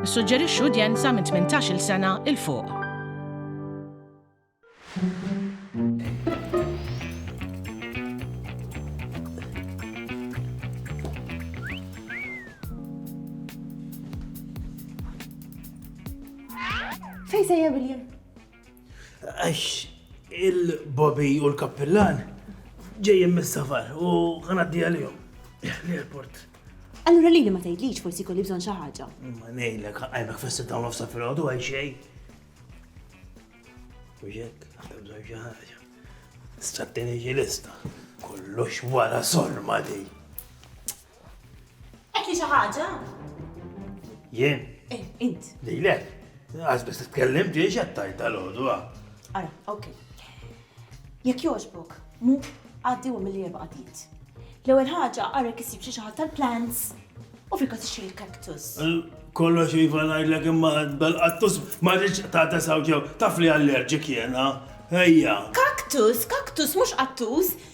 Nissuġġerixxu udjenza minn 18-il sena 'il fuq. Fejn sejjer William? Għax il-bobi u l-kappillan ġejjin mis-safar u ħanaddi għalihom. L-airport. Allura li ma tgħidlix forsi kolli bżonn xi ħaġa. Ma ngħidlek għajmek fis dawn nofsa fil-għodu għal xejn. U jekk għandek bżonn xi ħaġa. Strattini ġilista. Kollox wara sorma di. Qed li xi ħaġa? Jien? Eh, int. Lilek. Għaż biss titkellem ġej xattajt tal-għodu. Ara, ok. Jekk jogħġbok, mu għaddi u mill-li erba' għaddiet. L-ewwel ħaġa għarek isib xi ħadd tal-plants u fil każ xi l-kaktus. Kollox iva ngħidlek imma dal-qattus ma rridx ta' tesaw ġew taf li allerġik jena. Ejja. Kaktus, kaktus mhux qattus.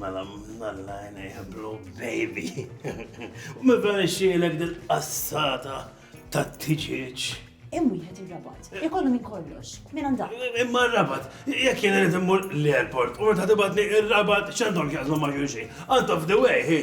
Mela mnalla għajnejħ blue baby. U me blan ixxielek dil-qassata ta' tiġieġ. Hemm wieħed ir-rabat. Ikollu minn kollox. Minn għandha. Imma r-rabat, jekk jien irid immur l-airport u meta tibgħatni ir-rabat x'għandhom x'jaqsmu ma' xulxin. Out of the way, hi.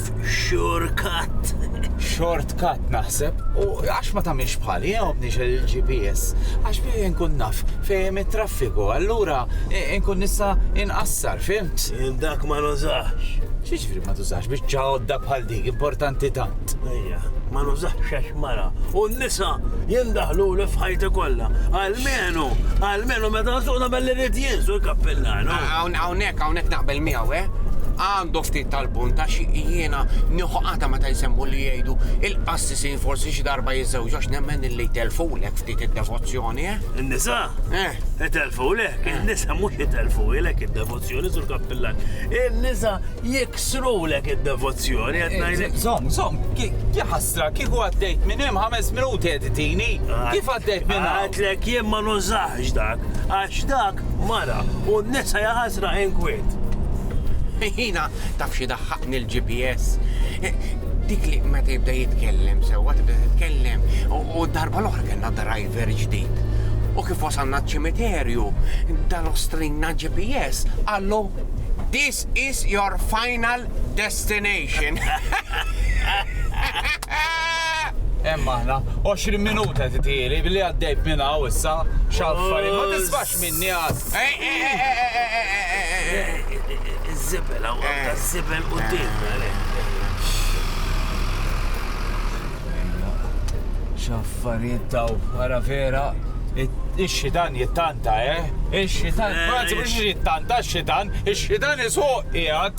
Shortcut. Shortcut naħseb, u għax ma tamilx bħali, jgħobni eh, il-GPS, għax biex nkun naf fejn it-traffiku, allura eh, nkun nista inqassar, fimt? Dak ma nużax. Xiġri ma tużax biex ċaħodda bħal dik, importanti tant. Ejja, ma nużax xax mara. U n-nisa jindaħlu l fħajti kollha. Almenu, almenu meta nsuq nagħmel li rrid jinsu l-kappillan. Hawnhekk hawnhekk naqbel miegħu, eh? Għandu ftit tal-punt għax jiena nieħu qatgħa meta jsemmu li jgħidu il-qassisin forsi xi darba jiżżewġu għax nemmen illi jtellfulek ftit id-devozzjoni, eh? In-nisa? Eh. Itellfulek, in-nisa mhux itellfulek id-devozzjoni sur Kappillan. In-nisa jiksrulek id-devozzjoni qed ngħidlek. Żomm, żomm, ki ki ħasra, kieku għaddejt minn hemm ħames minuti qed itini. Kif għaddejt minn hawn? Għadlek jien ma nużax dak, għax dak Dak, mara, u n-nisa jaqasra inkwiet. Jina, taf xi daħħaqni l-GPS. Dik li meta jibda jitkellem sewwa tibda titkellem u darba l-oħra kellna driver ġdid. U kif wasalna ċ-ċimiterju, dal-ostrinna GPS għallu This is your final destination. Hemm aħna. 20 minuta titieli billi għaddejt minn hawn issa x'affarijiet ma tisbax minni għad. Iż-żibel hawn għandha żibel quddiem. X'affarijiet daw ara vera ix-xitan jittanta, eh? Ix-xitan, frazi mhux jittanta, ix-xitan, ix-xitan isuq qiegħed.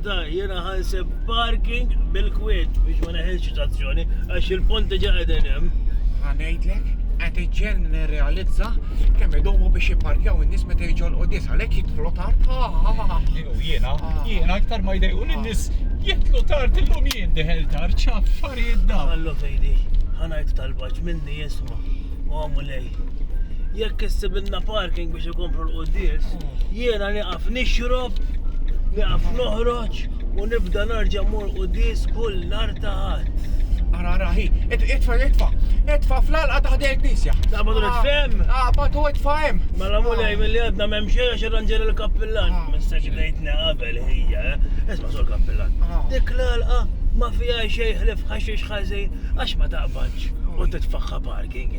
Ta jiena ħanseb parking bil-kwiet biex ma neħilx tazzjoni għax il-ponti ġa qegħdin hemm. Ħanejdlek, qed iġġel nirrealizza kemm idumu biex jipparkjaw in-nies meta jiġolqu dis għalhekk jidħlu tard. Jiena, jiena aktar ma jdejqu lin-nies jidħlu tard illum jien deħel tard x'affarijiet dawn. Ħallu fejdi, ħanajt tal-baġ minni jisma' u għamu lej. Jekk issibilna parking biex ikomplu l-qudies, jiena nieqaf nixrob, nieqaf noħroġ u nibda narġa' mur qudies kull nar ta' ħadd. Ara raħi, itfa itfa, itfa fl-alqa taħdi l-knisja. Ta' badu nitfem? Ah, ah badu itfa hemm. Mela mulej ah. mill-li għadna m'hemm xejn għax irranġer il-kappillan. Ah. Missa xidejtna qabel hija, eh? Isma' sur kappillan. Dik l-alqa ma fija xejn ħlif ħaxix ħażin għax ma taqbadx u titfaħħa parking.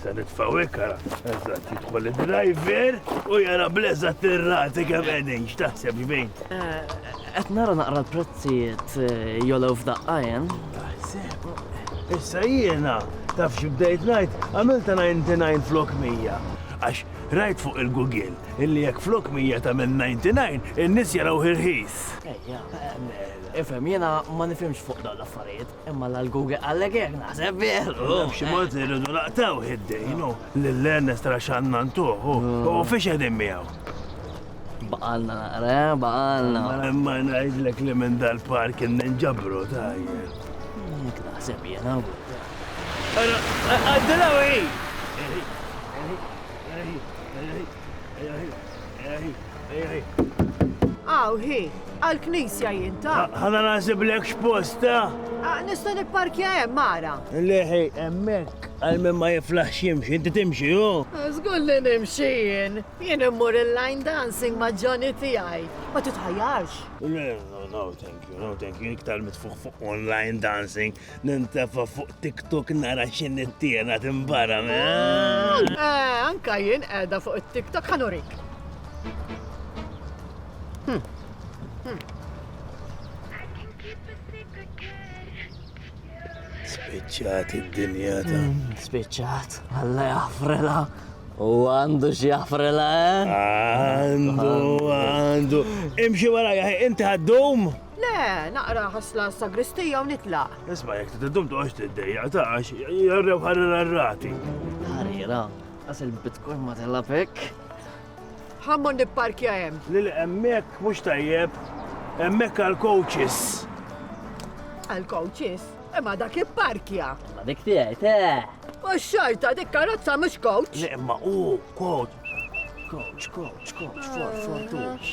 Se nitfaw ikara, eżatt jidħol id-driver u jara bleża tirrati kemm qegħdin x'taħseb ġbin. Eh, qed nara naqra l-prezzijiet eh, jolew f'daqqajen. Taħseb. Issa jiena taf xi bdejt ngħid għamilta 99 flok 100. Għax rajt fuq il-Google illi jekk flok 100 ta' minn 99 in-nies jaraw ħirħis. Ejja, eh, ifhem jiena ma nifhimx fuq dawn l-affarijiet. Imma l-Alguge qallek hekk naħseb, veru? Naf xi mod irridu naqtgħuh id-dejn u lil Ernest għax għandna ntuh u fiex qegħdin miegħu. Baqalna naqra, eh, baqalna. Imma ngħidlek li minn dal-par kien ninġabru tajjeb. Jek naħseb jena. Għaddila u Eħi, eħi. Aw, hi, għal-knisja jinta. Ħana naħseb lek x'posta. Ah, nista' nipparkja hemm mara. Leħi, hemmhekk għal min ma jiflaħ ximx, inti timxi hu. Żgur li nimxi jien. Jien immur il-line dancing ma' Johnny tiegħi. Ma titħajjarx. No, no, thank you, no, thank you. Iktar mitfuħ fuq online dancing. Nintefa fuq TikTok nara xin it-tiena timbara me. Eh, anka jien edha fuq it-TikTok ħanurik. Hmm. Hmm. Spiċċat id-dinja ta' hmm, spiċċat, għalla jafrela. U għandu xjafrela, eh? Għandu, għandu. Imxi wara, inti għaddum? Le, naqra ħasla s-sagristija u nitlaq. Isma' jekk trid iddum toqgħodx tiddejjaq ta' għax jarrew ħarira r-rati. Ħarira, għas il-bitcoin ma tilab hekk. Ħammon nipparkja hemm. Lil hemmhekk mhux tajjeb, hemmhekk għal coaches. Għal coaches? Imma dak il-parkja. Ma dik tiegħi, te. U xorta dik karozza mhux coach. Le imma u coach. Coach, coach, coach, for, for, coach.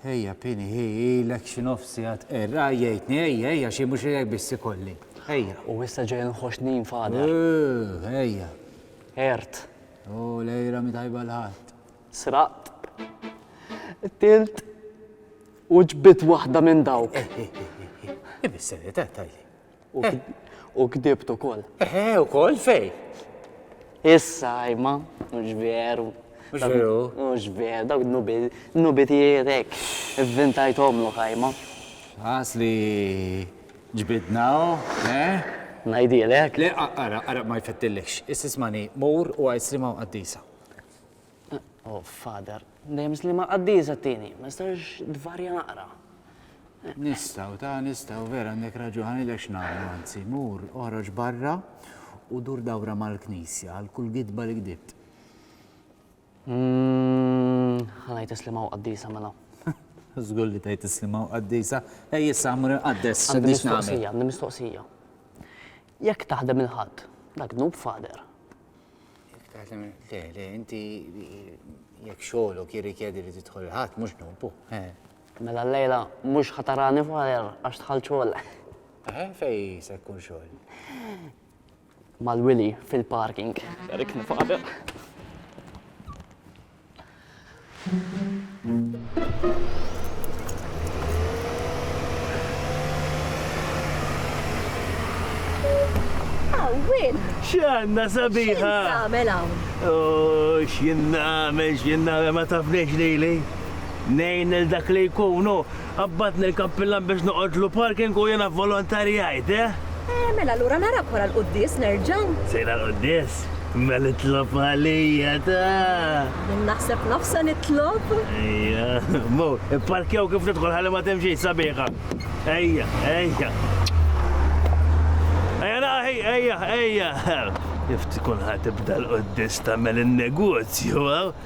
Ejja, pini, hi, ilek xi nofs sigħat qerra, jgħidni, ejja, ejja, xi mhux ilek biss ikolli. Ejja. U issa ġej nħoss nin fadar. Eh, ejja. Ert. U lejra mi tajba l-ħadd. Sraqt. Tilt. U ġbit waħda minn dawk. Eh, eh, eh, eh, eh. Ibis-serjetà tajli. U kdibt ukoll. Eħe, ukoll fej. Issa, imma, mhux veru. Mhux veru. Mhux veru, dawk nubi tiegħek. Ivvintajthom lu ħajma. Ħas li ġbidna, eh? Ngħidilek. Le, ara, ara ma jfettillekx. Issismani, mur u għid slima qaddisa. O Father, dejjem slima qaddisa t-tieni, ma jistax tvarja naqra. Nistgħu, ta' nistgħu, vera għandek raġun, ħanilek x'nagħmlu anzi, mur, oħroġ barra u dur dawra mal-knisja għal kull gidba li gdibt. Mm, Ħanajt islima u qaddisa mela. Żgur li tajt islima u qaddisa, ej issa mur inqaddes, Għandi x'nix nagħmel. mistoqsija, għandi mistoqsija. Jekk taħdem il-Ħadd, dak dnub Father. Taħdem, le, le, inti jekk xogħolok jirrikjedi li tidħol il-ħadd mhux nobbu. Mela l-lejla mhux ħatarani fajer għax tħall xogħol. Eħe, fej se jkun xogħol? Mal-Willy fil-parking. Erik nifaqdek. Xanna sabiħa! Għamel hawn. Oh, x'jien nagħmel, x'jien nagħmel ma tafniex lili. Nejn il dak li jkunu, Qabadni l-kappillan biex noqgħodlu parking u jiena vvolontarjajt, eh? Eh, mela allura narak wara l-quddies nerġa'. Sejra l-quddies? Mela itlob għalija ta! Min naħseb nofsa nitlob? Ejja, mu, ipparkjaw kif tidħol ħalli ma timxi sabiħa. Ejja, ejja. Ejja naħi, ejja, ejja. Kif tkun ħatibda l-quddies tagħmel in-negozju, eh?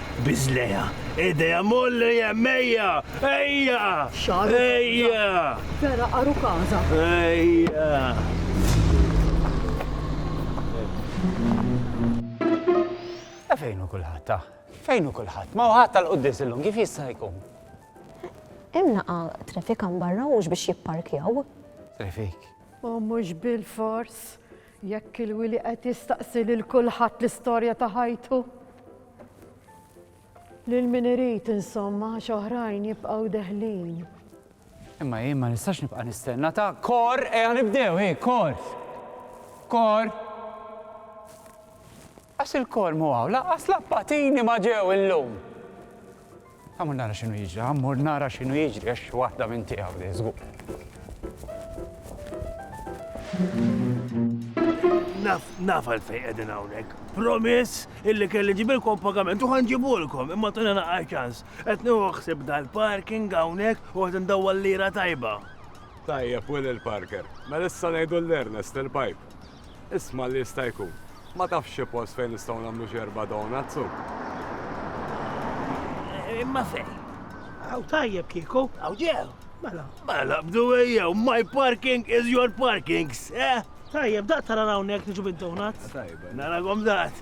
Biżlejha, idejha molli hemm ejja! Ejja! Xagħru. Ejja! Vera qaru każa. Ejja! Ta' fejn hu kulħadd ta'? Fejn hu kulħadd? Ma hu ħadd tal-quddis illum kif jista' jkun? Hemm naqa' traffic hawn barra mhux biex jipparkjaw. Traffic. U mhux bilfors. Jekk il-wili qed jistaqsi lil kulħadd l-istorja ta' ħajtu. Lil min irid insomma għax oħrajn jibqgħu deħlin. Imma jien ma nistax nibqa' nistenna ta' kor ejja nibdew, hi kor. Kor. Għax ilkoll mhu hawn, lanqas l-appatini ma ġew illum! Ħa mmur nara x'inhu jiġri, ħa mmur nara x'inhu jiġri għax xi waħda minn tiegħu din żgur. Naf, naf għal fejn qegħdin hawnhekk. Promiss illi kelli ġibilkom pagament u ħanġibulkom imma tuna naqqa ċans. Qed nuħsib dal-parking hawnhekk u qed ndawwal lira tajba. Tajjeb, Will il-Parker. Mela issa ngħidu l-Ernest il-pipe. Isma' li jista' jkun. Ma tafx xi post fejn nistgħu nagħmlu xi erba' donuts u. Imma fejn? Aw tajjeb kieku. Aw ġew. Mela. Mela bdu ejjew, my parking is your parkings, eh? Tajjeb, daqt tara hawnhekk niġu bid-donuts. Tajjeb. Narakom daqt.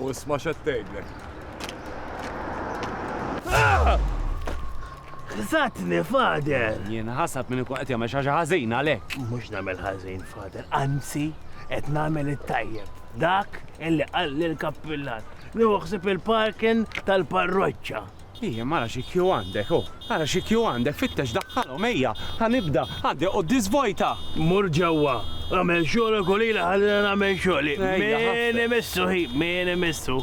U isma' x'qed tgħidlek. Ħsatni, Fader! Jien ħasad minn ikun qed jagħmel xi ħaġa ħażin għalhekk. Mhux nagħmel ħażin, Fader, anzi qed nagħmel it-tajjeb. Dak illi qalli l-kappillan. Nieħu ħsieb il-parkin tal-parroċċa. Ijiem ara xi queue għandek oh. Ara xi queue għandek fittex daħħalhom ejja ħa nibda għandi quddis vojta. Mur ġewwa għamel xogħlok u lili ħallina nagħmel xogħli. Min imissu hi min imissu.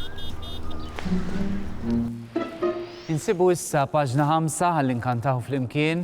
Insibu issa paġna ħamsa ħalli nkantaw flimkien.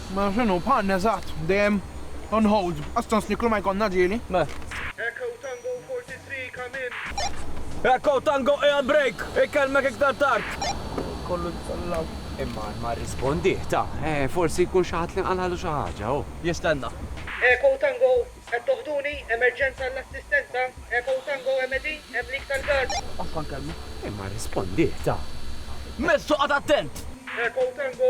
Mela x'inhu, bħalna eżatt, dejjem on hold, astant snikru ma jkollna ġieli. Mela. Echo Tango 43 come in. Echo Tango qiegħed break, ikellmek iktar tard. Kollu jitsallaw. Imma ma rrispondih, ta, forsi jkun xi ħadd li qalgħalu xi ħaġa, hu jistenna. Echo Tango Qed toħduni? Emerġenza għall-assistenza? Echo Tango Hemm qegħdin? Hemm leak tal-gas? Qatta' l-kelma. Imma rrispondih, ta. Mezz toqgħod attent! Echo Tango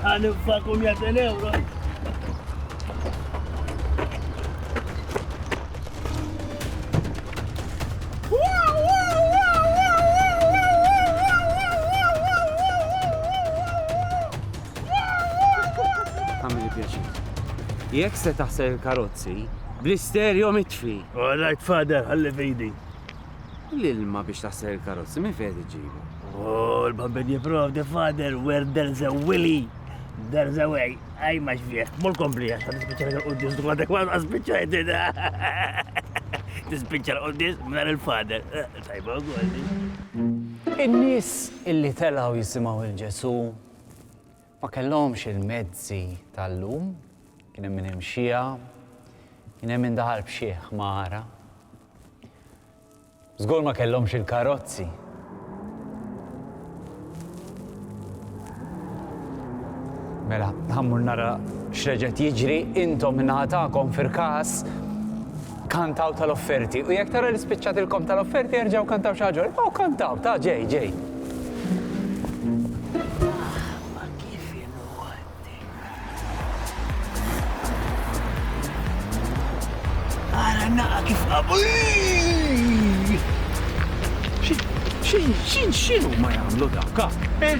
Għanifżakum ja ten euro. Jekk se taħsel il-karozzi, bl-isterjo mitfi. All right, father, ħalli fidi. L-ilma biex taħsel il-karozzi minn fejn iġġibu? Oh, l-bambin jiprov the father where there's a willy. There's a way, għaj maġ vieħ, mol kompli għax għad spiċċa għal qoddis dwar dak għad spiċċa għedina. Tispiċċa għal qoddis mnar il-fader. Tajba għolli. In-nis illi telaw jisimaw il-ġesu Ma kellhomx il-mezzi tal-lum, kien hemm min imxiha, kien hemm min daħal b'xi ħmara. Żgur ma kellhomx il-karozzi. Mela, ħammur nara x'reġgħet jiġri intom min-naħa tagħkom fir-każ Kantaw tal-offerti u jekk tara li spiċċat il-komb tal-offerti erġgħu kantaw xi ħaġa oħra. Ibqgħu kantaw, ta' ġej, ġej. naqa kif qabu. Xin, xin, xinu ma jamlu dawka? Eh?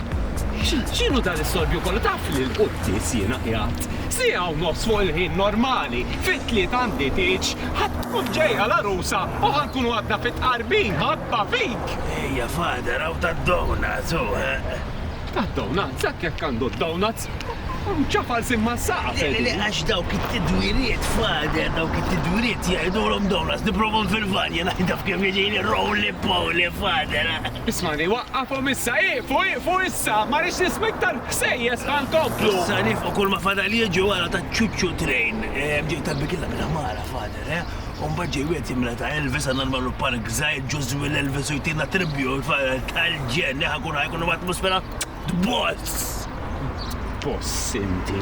Xinu dan is-sorbju kollu taf li l-quddis jiena qiegħed Siegħa u nofs fuq il-ħin normali, fit-Tliet għandi tieġ, ħa tkun ġejja l-għarusa u ħa nkunu għadna fit-tqarbin, ħabba fik! Ejja father, hawn tad-donuts, hu, eħ! Tad-donuts? Hekk jekk għandu d-donuts! Ċa falsin mas-saqaf, Eddie! Le, le, għax dawk it-tidwiriet, father, dawk it-tidwiriet jgħidulhom donuts, nipprobhom fil-van, jiena jaf kif jiġini roly poly, father, eħ! Ismani, waqqafhom issa! Ieqfu, ieqfu issa! Ma rridx nisma' iktar ħsejjes, ħa nkomplu! Sa nifqu kulma fadal jiġi wara ta' ċuċċu train. Ġej talbi killa bil-ħmara, Father, eh? U mbagħad ġej wieħed jimla ta' Elvis għandna nagħmlu palk żgħir ġuż Will Elvis u jtina tribute, Father, tal-ġenn, eh, ħa nkunu ħa jkun hemm atmosfera Boss! Boss inti.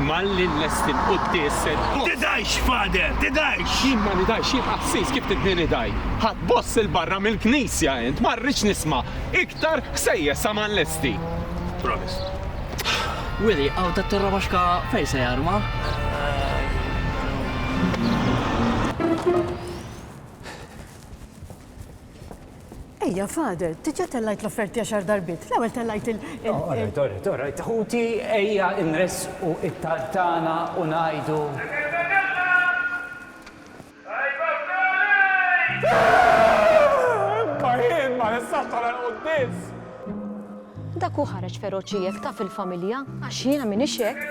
Malli l-lesti l-quddis se Tidajx, fader, tidajx! Jien ma nidajx jien qassis kif tidni nidaj. Ħadd boss il-barra mill-knisja int ma rridx nisma' iktar ħsejjes sa ma nlesti. Promise. Willy, hawn tat-Torra Baxka fejn se jarma? Ejja, Father, diġà tellajt l-offerti għaxar darbiet. L-ewwel tellajt il- Orajt, orajt, orajt, ħuti, ejja nressqu it-talb tagħna u ngħidu. Dak hu ħareġ feroċi hekk taf il-familja għax jiena m'iniex hekk.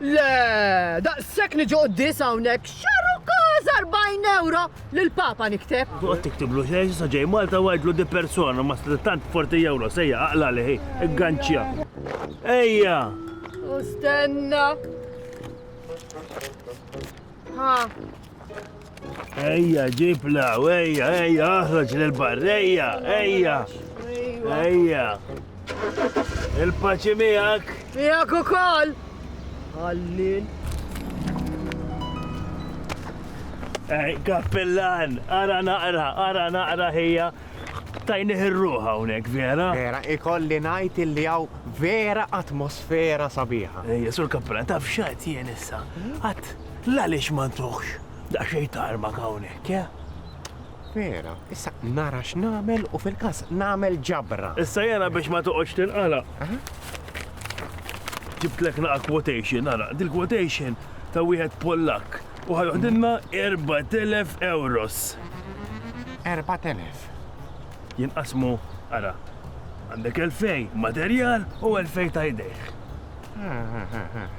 Le! Daqshekk niġi quddies hawnhekk x'arrukkaz arbgħin ewro lill-Papa nikteb! Toqgħod tiktiblu xejn s'issa ġej Malta u għidlu di persona ma setgħet tant b' forty euros, ejja, aqla' għalih hi, igganċċja. Ejja! U stenna! Ejja, ġibla, ejja, ejja, aħroġ l-barreja, ejja, ejja. Il-paċi miegħek. Miegħek ukoll. Għallin. Ej, kappellan, ara naqra, ara naqra ħija. Tajnih ir-ruħ hawnhekk, vera? Vera, ikolli ngħid illi hawn vera atmosfera sabiħa. Ejja, Sur Kappulan, taf x'għedt jien issa? Għedt, l-għaliex ma ntuħx daqsxejn tarmak hawnhekk, eh? Vera, issa nara x'nagħmel u fil-każ nagħmel ġabra. Issa jiena biex ma toqgħodx tinqala'. Ġibtlek naqa' quotation, ara, dil-quotation ta' wieħed Pollakk U ħa joħdilna erbat elef ewros. Erbat elef? Jinqasmu, ara, għandek elfej materjal u elfej ta' idejh.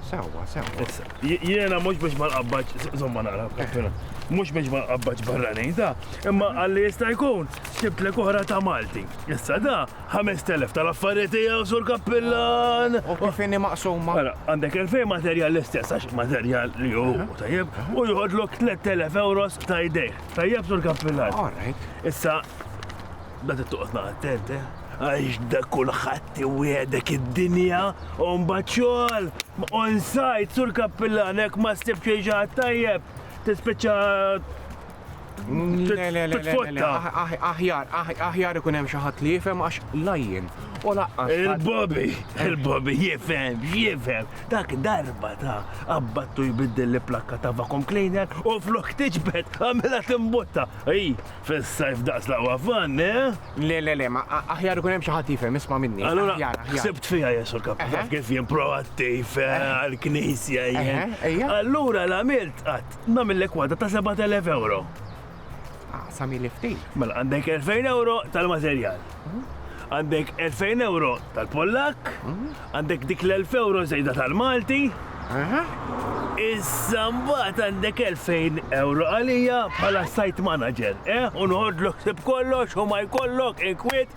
Sewwa, sewwa. Jiena mhux biex ma nqabbaġ, żomma naqra kaffina, mhux biex ma nqabbaġ barranin ta, imma għalli jista' jkun xibtlek oħra ta' Malti. Issa da Ħamest elef tal-affarijiet tiegħu, Sur Kappillan! U kif inni maqsuma? Mela, għandek elfej materjal l-istess għax materjal li hu tajjeb u joħodlok 3000 euros ta' idejh. Tajjeb, Sur Kappillan. All right. Issa, da tittuqot naqa' attent, eh? għax da kulħadd iwiegħdek id-dinja u mbagħad xogħol on site sur kappillan hekk ma ssib xejn ġaħat tajjeb tispiċċa Titfotta. Aħjar, aħjar ikun hemm xi ħadd li jifhem għax lajjen. U laqqas. Il-Bobby, il-Bobby jifhem, jifhem. Dak darba ta' abbattu jbiddel li plakka ta' vakum cleaner u flok tiġbed għamela timbotta. Ej, fis-sajf daqs laqwa fan, eh? Le, le, le, ma aħjar ikun hemm xi ħadd jifhem, isma' minni. Allura, sibt fija jesu l-kappa kif jien proattiv eh, għal-knisja jien. Allura l-għamilt qatt Nagħmillek waħda ta' 7,000 ewro. Ah, samili ftit. Mela għandek 2,000 ewro tal-materjal. Għandek 2,000 ewro tal-Pollak, għandek dik l-1000 ewro żejda tal-Malti. Aha. Issa mbagħad għandek 2,000 ewro għalija bħala site manager, eh? U noħodlok sib kollox u ma jkollok inkwiet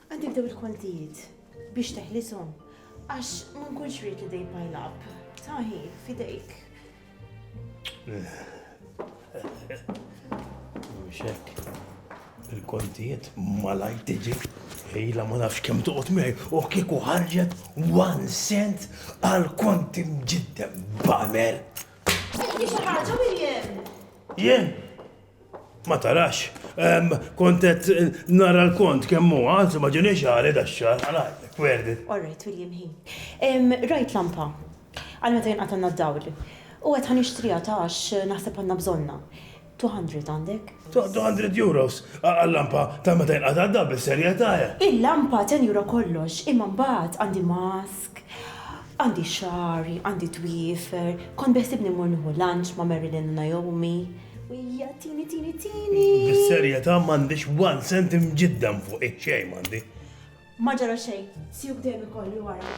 Għad jibdew il-kontijiet biex teħlishom għax ma nkunx ried li they pile up. Taħi, fidejk. Mhux hekk. Il-kontijiet malaj tiġi Ejla ma nafx kemm toqgħod miegħi u kieku ħarġet one cent għal konti mġiddem bamer. Jien xi ħaġa William. Jien Ma tarax, kont qed nara l-kont kemm hu, anzi ma ġiniex għali dax-xahar, għal għajtek, werdi. All right, William ħin. Rajt lampa, għal meta jinqatgħalna d-dawl. U għedt ħa nixtriha ta' għax naħseb għandna bżonnha. 200 għandek? 200 euros għal-lampa ta' meta jinqata' d-dawl bis-serjetà. Il-lampa tenjura kollox, imma mbagħad għandi mass, Għandi xagħri, għandi twiefer, kont beħsibni mmur nieħu lunch ma' Marilyn u Naomi, u hija tini, tini, tini. Bis-serjetà m'għandix one cent imġiddem fuqi, xejn m'għandi. Ma ġara xejn, siewk dejjem ikolli wara.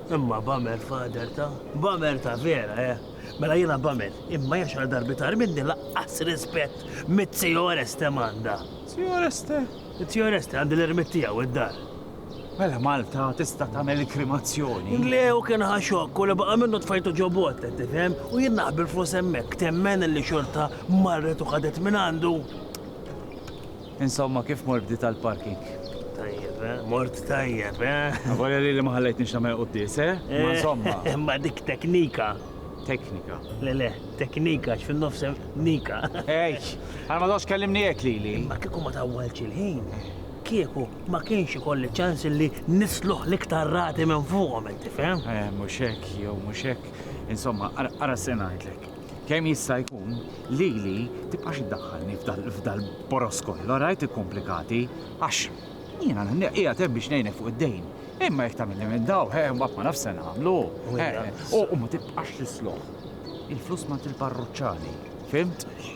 Imma bamel father ta. Bamel ta vera eh. Mela jiena bamel, imma jaf x'għal darba itar minni laqqas rispett mit-Zio Oreste m'għandha. Zio Oreste? Zio Oreste għand l-ermitt tiegħu id-dar. Mela Malta tista' tagħmel il-krimazzjoni? Le hu kien ħa xokk u li baqa' minnu tfajtu ġo bot, qed tifhem? U jien naħbi l-flus hemmhekk, temmen illi xorta marret u ħadet minn għandu. Insomma kif mor bdiet għall-parking? Tajjeb eh? Mort tajjeb eh? Avolja lili ma ħallejtnix nagħmel quddies eh? Imma insomma. Imma dik teknika. Teknika. Le le, teknika x'fin-nofs hemm nika. Ej, għal ma tgħodx kellimni hekk lili. Imma kieku ma tawwaltx il-ħin, kieku ma kienx ikolli ċans li nisluħ l-iktar rati minn fuqhom, inti fehem? Eh, mhux hekk, jew mhux hekk. Insomma, ara ara se ngħidlek. kemm jista' jkun, lili tibqax iddaħħalni f'dal-boros kollu, rajt ikkomplikati, għax jiena qiegħed hemm biex ngħinek fuq id-dejn. Imma jekk tagħmilni minn daw, eh, mbagħad ma nafx se nagħmlu. Eh, u ma tibqax tisloħ. Il-flus ma il-parruċċani, fimt?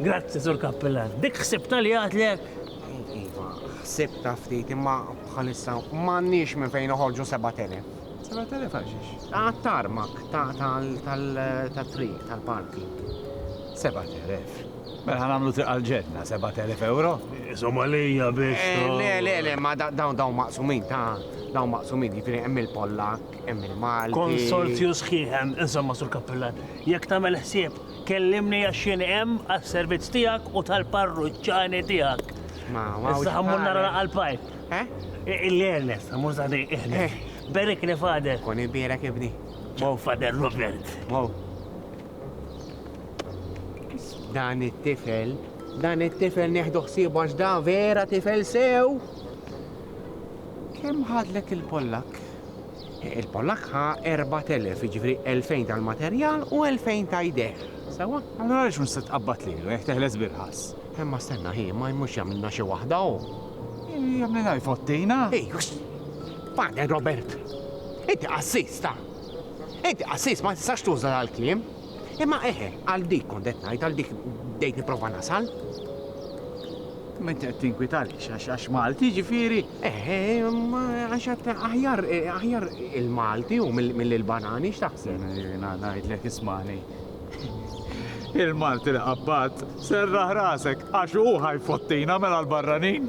Grazzi, Sur Kappillan. Dik ħsibta li għadlek? Iva, ħsibta ftit imma bħalissa m'għandniex minn fejn noħorġu 7000. 7000 għal xiex? Għat-tarmak tal-triq tal-parking. 7000. Mela ħan għamlu triq għal-ġenna, 7000 euro. Somalija biex. Eh, le, le, le, ma dawn dawn maqsumin ta' dawn maqsumin jifri hemm il-Pollak, hemm il-Malti. Konsorzju sħiħem, insomma sur kappillan, jekk tagħmel ħsieb Kellimni għax jien hemm għas-servizz tiegħek u tal-parruċċani tiegħek. Ma, ma, Issa ħammur nara laqgħa l-pajp. Eh? Illi Ernest, ħammur zaħdi iħni. Eh. Berikni fader. Kun ibirek ibni. Mow fader Robert. Mow. Dan it-tifel, dan it-tifel neħdu ħsieb għax da vera tifel sew. Kemm ħadlek il-Pollak? Il-Pollakk ħa erbat elef, jiġifieri elfejn tal-materjal u elfejn ta' jdejh. Sewwa? Allura għaliex mhux se tqabbad lilu jekk teħles bil-ħass? Imma stenna, hi, ma jmux jagħmilna xi waħda hu? Jagħmlilha jfottina? Hi, uxx! Pader Robert! Inti qassis, ta! Inti qassis, ma tistax tuża dal-kliem. Imma eħe, għal dik kont qed ngħid, għal dik bdejt nipprova nasal. Ma inti qed tinkwita għaliex għax għax Malti ġifieri? Eh, għax qed aħjar eh, aħjar il-Malti u mill-Banani x'taħseb? Eh, ngħidlek ismani. Il-Malti li qabbat serraħ rasek għax hu ħajfottina mela l-barranin.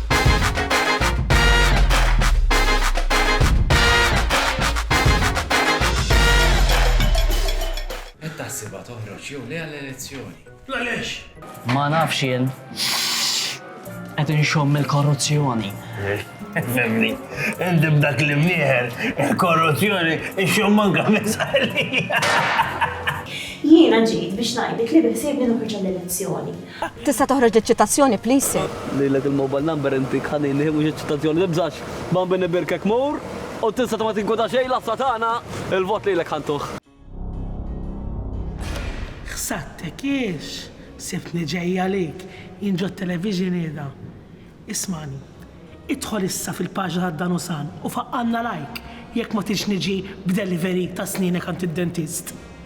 Qed taħsibha toħroġ jew le għall-elezzjoni? Għaliex? Ma nafx jien. Qed inxomm il-korruzzjoni. Femni, indim dak li mnieħer, il-korruzzjoni, ixxom manka mizqalija. Jiena ġejt biex ngħidlek li biħsibni noħroġ l-elezzjoni. Tista toħroġ li ċitazzjoni please sir. Lilek il mobile number inti khanini mhux iċ-ċitazzjoni tibżax Bambi nibirkek mur u tinsa ta ma tinkweta xejn l-għassa tagħna il vot lilek ħantuh. Ħsattek giex sibtni ġej għalik jien ġo television qiegħda. Ismagħni. Idħol issa fil paġna ta' Dan u San u faqqgħalna like jekk ma tridx niġi b'delivery ta' snienek għand id-dentist.